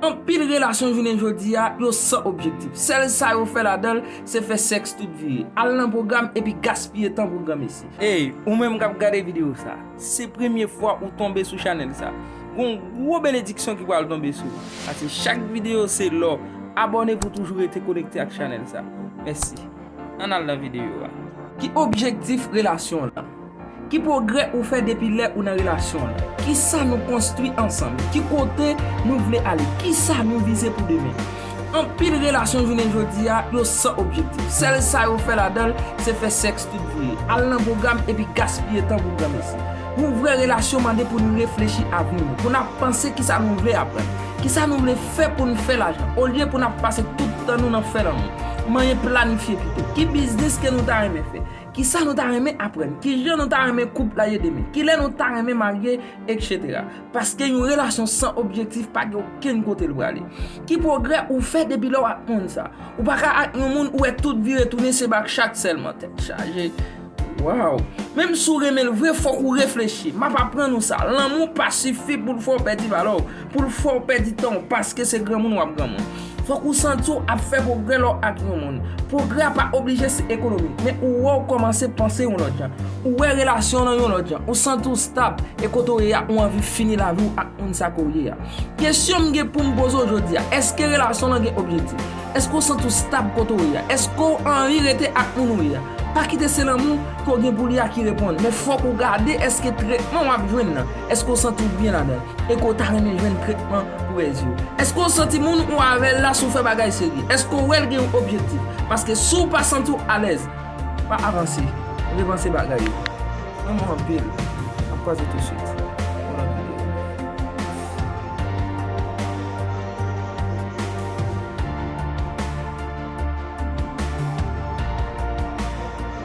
Anpil relasyon jounen jodi a, yo san objektif. Sèl sa yo fè ladan l, se fè sèks tout vire. Al nan pwogram epi gaspiye tan pou granmesi. Ey, ou menm k ap gade videyo sa, si se premye fwa ou tonbe sou chanèl sa, gen yon gwo benediksyon ki pral tonbe sou ou. Pase chak videyo se lò. Abòne pou toujou rete konekte ak chanèl sa. Mèsi. Ann al nan videyo a. Ki objektif relasyon w lan? Ki pwogrè ou fè depi lè ou nan relasyon an? Kisa nou konstwi ansanm? Ki kote nou vle ale? Kisa nou vize pou demen? Anpil relasyon jounen jodi a, yo san objektif. Sèl sa yo fè ladan l, se fè sèks tout vre, al nan pwogram epi gaspiye tan pou granmesi. Yon vrè relasyon mande pou n reflechi avni nou, pou n ap panse kisa nou vle aprann, kisa nou vle fè pou n fè lajan, olye pou n ap pase tout tan nou nan fè lanmou. Manyen planifye pito. Ki biznis ke nou ta renmen fè? Kisa nou ta renmen aprann? Kijan nou ta renmen koup la ye demen? Kilè nou ta renmen marye? Etc. Paske yon relasyon san objektif pa gen okenn kote l prale. Ki pwogrè ou fè depi lè w aprann sa? Ou pa ka ak yon moun ou wè tout vire tounen se bak chat sèlman. Tèt chaje! Waww! Menm si w renmen l vre fòk ou reflechi. M ap aprann ou sa, lanmou pa sifi pou l fè w pèdi valè w. pou l fè w pèdi tan w paske se granmoun w ap granmoun. Fòk ou santi w ap fè pwogrè lè w ak yon moun. Pwogrè a pa oblije se ekonomik, men ou wè w kòmanse panse yon lòt jan. Ou wè relasyon w nan yon lòt jan. Ou santi w stab, e kote w ye a ou anvi fini lavi w ak moun sa ke w ye a. Kesyon m gen pou m poze w jodi a, èske relasyon w lan gen objektif? Èske w santi w stab kote w ye a? Èske w anvi rete ak moun ou ye a? Pa kite se lanmou ke w gen pou li a ki reponn, men fòk ou gade èske tretman w ap jwenn nan, Èske w santi w byen ladan l? Èke w ta renmen jwenn tretman pou rèz yo? Èske w santi moun ou avè l la sou fè bagay serye? Èske w wè l gen yon objektif? Paske si w pa santi w alèz, pa avanse, repanse bagay yo. M renmen w anpil. N ap kwaze tousuit.